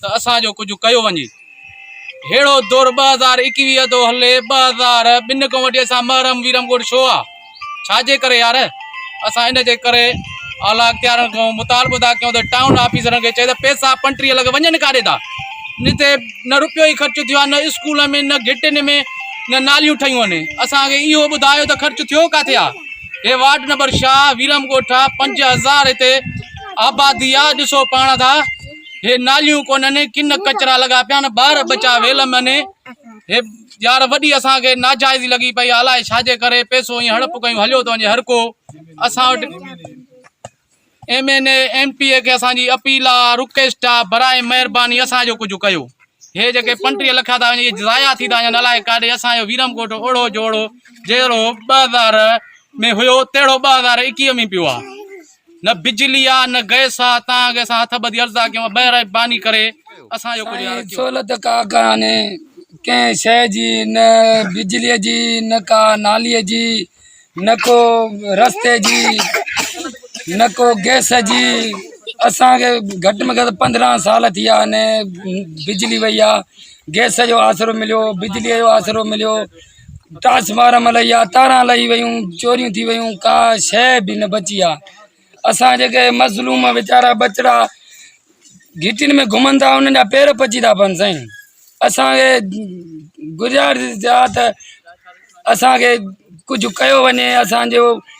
ته اسان جو ڪجهه ڪيو وڃي. ههڙو دور ٻه هزار ايڪويهه ٿو هلي ٻه هزار ٻن کان وٺي اسان محرم ويرم ڳوٺ ڇو آ؟ ڇا جي ڪري يار؟ اسان ان جي ڪري اعليٰ اختيارن کان مطالبو ٿا ڪيون ته ٽائون آفيسرن کي چئي ته پئسا پنٽريء لڳ وڃن ڪاڏي ٿا؟ جتي نه روپيو ئي خرچ ٿيو آ نه اسڪولن ۾ نه گهٽين ۾ نه ناليون ٺهيون آهن اسان کي اهو ٻڌايو ته خرچ ٿيو ڪاٿي آ؟ هي وارڊ نمبر شاهه ويرم ڳوٺ آ پنج هزار هتي آبادي آ ڏسو پاڻ ٿا. هي ناليون ڪونهن ڪن ڪچرا لڳا پيا آهن ٻار ٻچا ويل ۾ هي يار وڏي اسان کي ناجائزي لڳي پئي الاء ڇا جي ڪري پئسو ائين هڙپ ڪيون هليو ٿو وڃي هر ڪو اسان وٽ M N A M P A کي اسان جي اپيل آ رڪويسٽ آ برائي مهرباني اسان جو ڪجهه ڪيو هي جيڪي پنٽيهه لک ٿا وڃي ضايع ٿي ٿا وڃن الاء ڪاڏي اسان جو ويرم ڳوٺ اوڙو جوڙو جهڙو ٻه هزار ۾ هيو تهڙو ٻه هزار ايڪيهه ۾ پيو آ نه بجلي آ نه گئس آ تان اڳي اسان هٿ ٻڌي عرض آ ڪيون بهر آئي باني ڪري اسان جو ڪجهه سائين سھولت ڪا ڪانھي ڪنھن شيء جي نه بجلي جي نه ڪا نالي جي نه ڪو رستي جي نه ڪو گئس جي اسان کي گهٽ ۾ گهٽ پندرهن سال ٿي ويا آھن بجلي وئي آ گئس جو آسرو مليو بجلي جو آسرو مليو ٽاس مارم الائي آ تارا الائي ويون چوريون ٿي ويون ڪا شي به نه بچي آ اسان جيڪي مظلوم ويچارا بچڙا گھٽين ۾ گھمن ٿا انهن جا پير پچي ٿا پن سائين اسان کي گذارش آ ته اسان کي ڪجهه ڪيو وڃي اسان جو